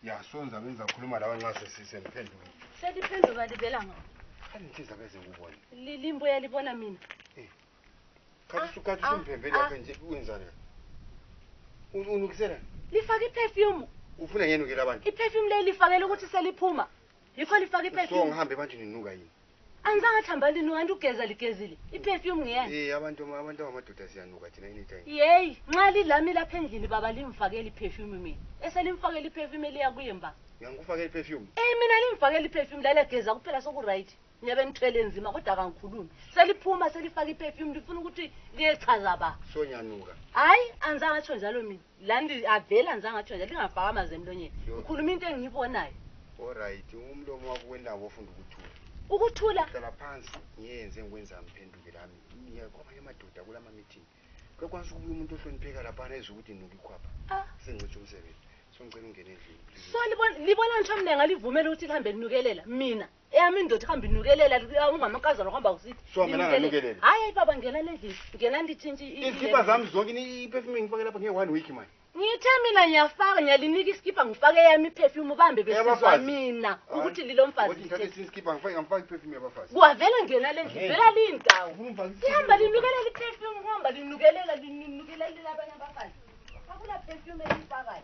ya sonza bengizakhuluma lawa nxa sesisemphenduka seliphenduka livela ngo kangithi zabe zingubona Li- limbuya libona mina khathi khathi ah, usumpembele ah. yakhe nje wenzani Un- unukisela lifake iperfume ufuna ngenukela abantu iperfume leyi lifakele ukuthi seliphuma yikho lifake so iperfume ngihambe abantu nginuka yini angizange athamba linuka anti ugeza ligezile iperfume ngeyani Eh, abantu abantu abamadoda siyanuka thina anytime yeyi nxa lilami lapha endlini baba limfakele iperfume mina eselimfakele iperfume eliya kuye mba ngiyangikufakela iperfume eyi Eh, mina limfakele iperfume lalegeza kuphela sokuright ngiyabe ngithwele nzima kodwa kangikhulumi seliphuma selifake iperfume lifuna ukuthi liyechaza ba so ngiyanuka hayi angizange atsho njalo mina lani avela nje angatsho nje lingafaka amazi emlonyeni Yo. ngikhuluma into engiyibonayo olright umlomo wakho wendawo ofunda ukuthula ukuthula hlala phansi ngiyenze ngikwenza ngiphenduke lami ngiya kwamanye amadoda kula ma-meeting kuyakwanisa ukubuya umuntu ohlonipheka laphana ezwe ukuthi nukikhwapha Ah. sengincitshe umsebenzi so ngicela ungene endlini please. so libon- libona ngitsho mna ngalivumela ukuthi lihambe linukelela mina eyami indoda ihambe inukelela ungamakazana ohamba usithi So, mina nganukelela. hayi ayi baba ngena lendlini ngena nditshintshe i- izikipa zami zonke ni- iperfume engifake lapha nge-one week manje ngithe mina ngiyafaka ngiyalinika isikipa ngifake eyami iperfume ubambe besizwa Eyabafazi. mina ukuthi lilo mfazi Wathi ngithathe ngithe- esinye isikipa ngifake ngifake iperfume yabafazi kuwavela ngena lendlini Hey. vela lindawo Ufuna umfake isikipa? ihamba linukelela iperfume kuhamba linukelela linukelela abanye abafazi akula perfume eliyifakayo